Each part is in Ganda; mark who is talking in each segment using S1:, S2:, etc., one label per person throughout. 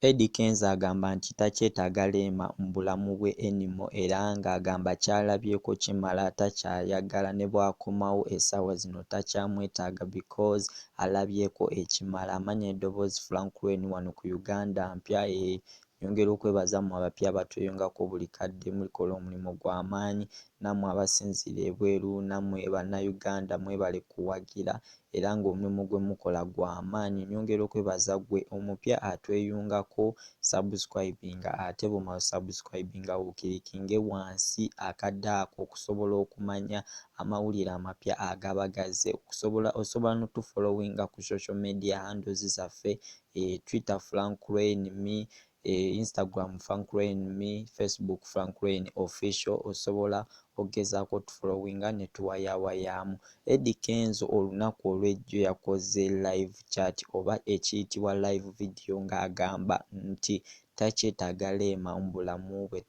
S1: Eddy Kenzo agamba nti takyetaaga Rema mu bulamu bwe anymore era ng'agamba kyalabyeko kimala takyayagala ne bwakomawo essaawa zino takyamwetaaga because alabyeko ekimala. Amanya eddoboozi Frank Wayne wano ku Uganda mpya eeh nyongera okwebaza mmwe abapya abatweyungako buli kadde mukola omulimu gwa maanyi nammwe abasinziira ebweru nammwe bannayuganda mwebale kuwagira era ng'omulimu gwe mukola gwa maanyi nyongera okwebaza gwe omupya atweyungako subscribinga ate bwomala o subscribinga wo kilikinge wansi akade ako okusobola okumanya amawulire amapya agaba gazze okusobola osobola no tu followinga ku social media handles zaffe e twitter Frank Lwayne me e Instagram franklyn me Facebook franklyn official osobola ogezaako otufolowinga ne tuwayawayaamu. Eddy Kenzo olunaku olw'ejjo yakoze live chat oba ekiyitibwa live video ng'agamba nti takyetaaga Rema mu bulamu bwe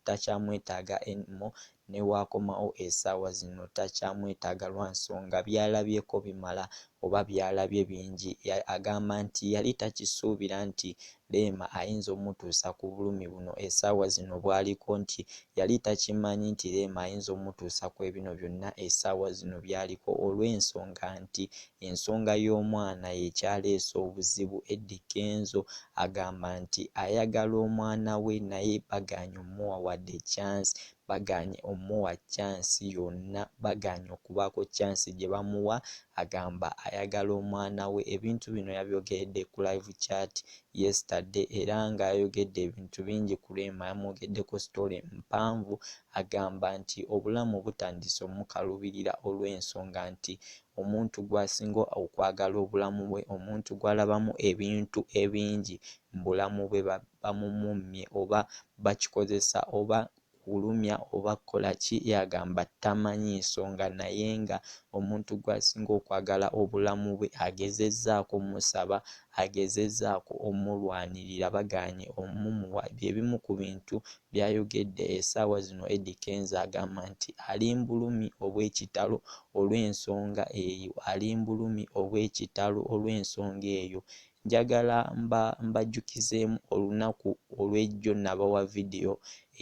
S1: takyamwetaaga any more ne w'akomawo esaawa zino takyamwetaaga lwa nsonga by'alabyeko bimala oba by'alabye bingi. Agamba nti yali takisuubira nti Rema ayinza omutuusa ku bulumi buno esaawa zino bw'aliko nti yali takimanyi nti Rema ayinza omutuusa kw'ebino byonna esaawa zino by'aliko olw'ensonga nti Ensonga y'omwana y'ekyaleese obuzibu Eddy Kenzo agamba nti ayagala omwana we naye bagaanye omuwa wadde chance bagaanye omuwa chance yonna bagaanye okubaako chance gye bamuwa agamba ayagala omwana we Ebintu bino yabyogeredde ku live chat yesterday era nga yayogedde ebintu bingi ku Rema yamwogeddeko story mpanvu agamba nti obulamu butandiise omukalubirira olw'ensonga nti Omuntu gw'asinga okwagala obulamu bwe, omuntu gw'alabamu ebintu ebingi mu bulamu bwe bamumummye oba bakikozesa oba kulumya oba kukola ki y'agamba tamanyi nsonga naye nga omuntu gw'asinga okwagala obulamu bwe agezezzaako omusaba, agezezzaako omulwanirira bagaanye omumuwa bye bimu ku bintu Byayogedde esaawa zino Eddy Kenzo agamba nti alimbulumi obwekitalo olwensonga eyo alimbulumi obwekitalo olwensonga eyo njagala mba mbajjukizeemu olunaku olwejjo nabawa video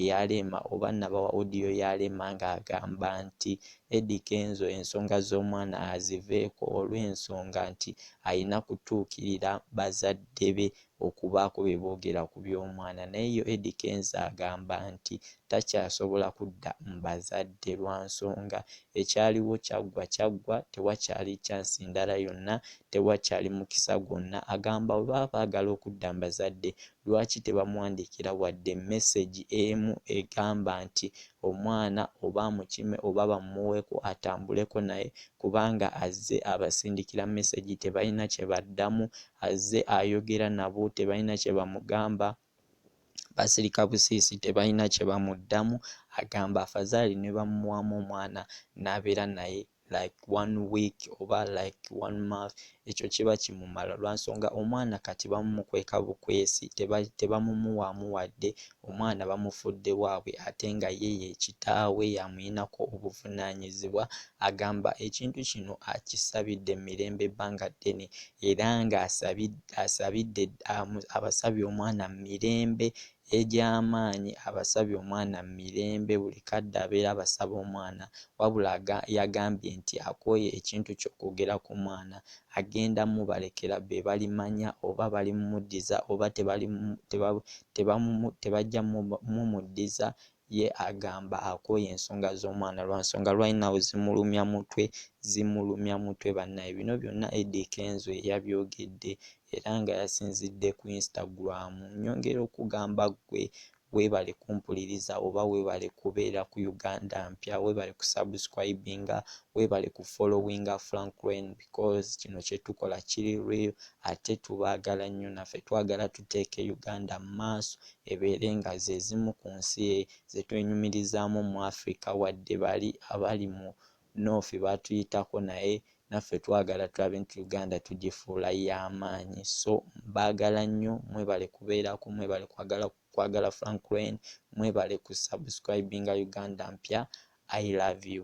S1: eya Rema oba nabawa audio ya Rema nga agamba nti Eddy Kenzo ensonga zomwana aziveeko olwensonga nti ayina kutuukirira bazadde be okubaako bye boogera ku by'omwana naye yo Eddy Kenzo agamba nti takyasobola kudda mu bazadde lwa nsonga ekyaliwo kyaggwa kyaggwa tewakyali chance ndala yonna, tewakyali mukisa gwonna agamba bwe baba baagala okudda mu bazadde lwaki tebamuwandiikira wadde message emu egamba nti omwana oba amukime oba bamumuweko atambuleko naye kubanga azze abasindikira message tebalina kye baddamu Azze ayogera nabo tebalina kye bamugamba, basirika busiisi tebalina kye bamuddamu, agamba afazaali ne bamuwaamu omwana n'abeera naye like one week oba like one month ekyo kiba kimumala lwa nsonga omwana kati bamumukweka bukwesi tebamumuwaamu wadde Omwana bamufudde waabwe ate nga ye ye kitaawe y'amuyinako obuvunaanyizibwa. Agamba ekintu kino akisabidde Mirembe ebbanga ddene era ng'asabidde abasabye omwana Mirembe egy'amaanyi abasabye omwana Mirembe buli kadde abeera abasaba omwana wabula yagambye nti akooye ekintu ky'okwogera ku mwana agenda mubalekera be balimanya oba balimumuddiza oba tebajja mumuddiza ye agamba akooye ensonga z'omwana lwansonga right now zimulumya mutwe zimulumya mutwe banaye bino byonna Eddy Kenzo yeyabyogedde era nga yasinzidde ku Instagram nyongera okugamba ggwe Webale kumpuliriza oba webale kubeera ku Uganda mpya webale ku subscribinga webale ku followinga Frank Reign because kino kyetukola kiri real ate tubaagala nnyo naffe twagala tuteeke Uganda mu maaso ebeere nga zezimu ku nsi zetwenyumirizaamu mu Africa wadde bali abali mu North batuyitako naye naffe twagala tulabe nti Uganda tugifuula yamaanyi so mbagala nnyo mwebale kubeerako mwebale kwagala kwagala Frank Lwen mwebale ku subscribinga Uganda mpya I love you.